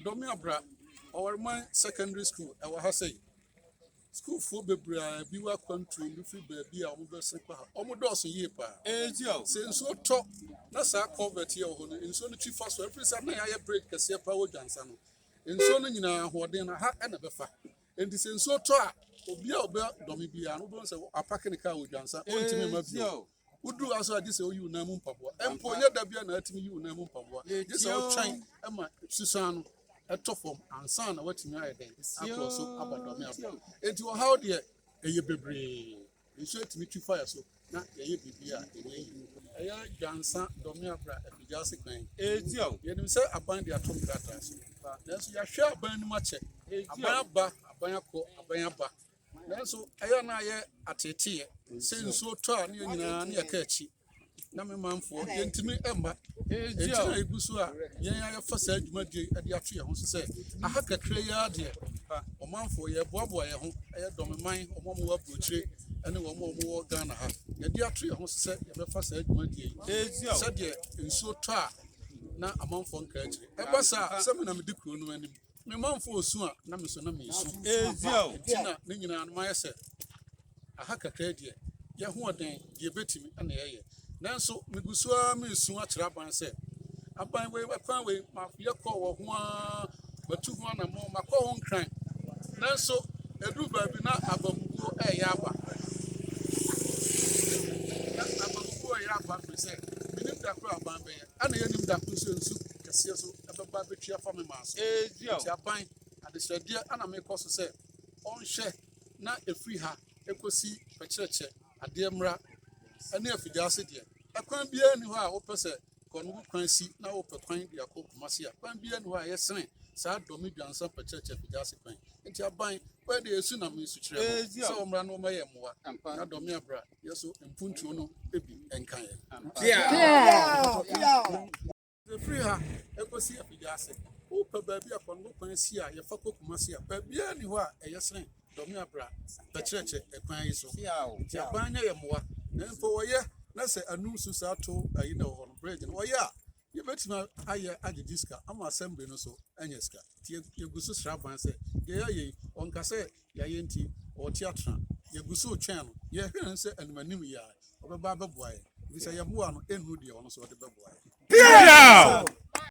Dome Abra Ɔwariman Secondary School ɛwɔ ha sɛi. Sukuufoɔ bebree a ebi wɔ akwantuo bi firi baabi a wɔbɛsen kɔ ha. Wɔdɔɔso yie paa. Sɛ nsuo tɔ na saa culvert yi a ɛwɔ hɔ no, nsuo no twi fa so. Ɛfiri sɛ na yɛayɛ bridge kɛseɛ paa wɔ Dwansa no. Nsuo no nyinaa ahoɔden no, ha na ɛbɛfa. Enti sɛ nsuo tɔ a, obi a ɔba Dome biara no, wobɛhu sɛ wapake ne kaa wɔ Dwansa. Ɔntumi mma bio. woduru ase a gye sɛ woyi wo nan mu mpaboa mpo nyɛ da bia na atumi yi wo nan mu mpaboa gye sɛ wotwɛn ma susan no ɛtɔ fam ansa na watumi ayɛ dɛn akorɔ so aba dɔme aba enti ɔhaw deɛ ɛyɛ bebree nso atumi twi fire so na yɛyɛ biribi a ɛnyɛ yi ɛyɛ dwansa dɔme abra apagya ase kwan yɛnim sɛ aban de ato nkrataa so nanso yɛahwɛ aban no mu akyɛ aban aba aban akɔ aban aba Nanso ɛyɛ na ayɛ ateeteeɛ sɛ nsuo tɔ a ne yɛn nyinaa ne yɛka akyi na me manfoɔ yɛntumi mma ɛnti na ɛgu so a yɛn ayɛfa saa dwumadie de ato yɛn ho so sɛ aha kakra yi ara deɛ ɔmanfoɔ yɛboaboa yɛn ho ɛyɛ dɔmeman ɔmo ɔmo wɔ aburokyire ɛne wɔn ɔmo wɔ Ghana ha yɛde ato yɛn ho so sɛ yɛbɛfa saa dwumadie yi sɛdeɛ nsuo tɔ a na amanfoɔ nka akyire ɛba saa sɛ me na medi kuro no anim Me manfo osu a na mesu na mensu nti na ne nyinaa no mayɛ sɛ aha kakraa deɛ yɛ hoɔden deɛ ɛbɛtumi na yɛyɛ nanso megu so ara mesu akyerɛ aban sɛ aban wei ɛkwan wei makoyɛ kɔɔ wɔ ho ara matu ho anammɔ makɔ ho nkran nanso ɛduru baabi na abamubuo ɛyɛ aba abamubuo ɛyɛ aba firi sɛ menim da koro aban bɛyɛ Ɛna yɛnnim da nso nsu kɛseɛ so ɛbɛba bɛtwi afa me maa so. Nti aban adesrɛdeɛ ana mekɔ so sɛ ɔnhwɛ na ɛfiri ha ɛkɔsi pɛkyerɛkyɛ adeɛ mmra ɛne afigyaase deɛ ɛkwan biara ni hɔ a wopɛ sɛ kɔnobu kwan si na wopɛ kwan de akɔ kumase a kwan biara ni hɔ a yɛsene saa dɔme dwansa pɛkyerɛkyɛ afigyaase kwan nti aban wɔyɛ deɛ ɛsu na mesu kyerɛ no sɛ wɔmmra no wɔmɛyɛ mmoa na dɔme abra Yesu mpuntuo no bi nka yɛn. Ɛfiri ha ɛkɔsi afidie ase wopɛ baabi a pɔn kwan si a yɛfa kɔ kuma si a baabiara ni hɔ a ɛyɛ sene dɔme abra bɛkyerɛkyerɛ ɛkwan yi so nti aban nyɛ yɛ mmoa na mpo wɔyɛ na sɛ anum so saa to ayi na wɔ hɔ no bridge no wɔyɛ a Yɛbɛtumi ayɛ ade di sika ama asɛmbli no so anya sika, nti yɛgu so srɛ aban sɛ deɛ yɛayɛ yi ɔnka sɛ yɛayɛ nti ɔte atena. Yɛgu so retwɛn no, yɛhwɛ no sɛ anim anim yi ara ɔbɛba abɛboa yɛn, nti sɛ yɛboa no ɛnnuru deɛ ɔno nso ɔde bɛboa yɛn.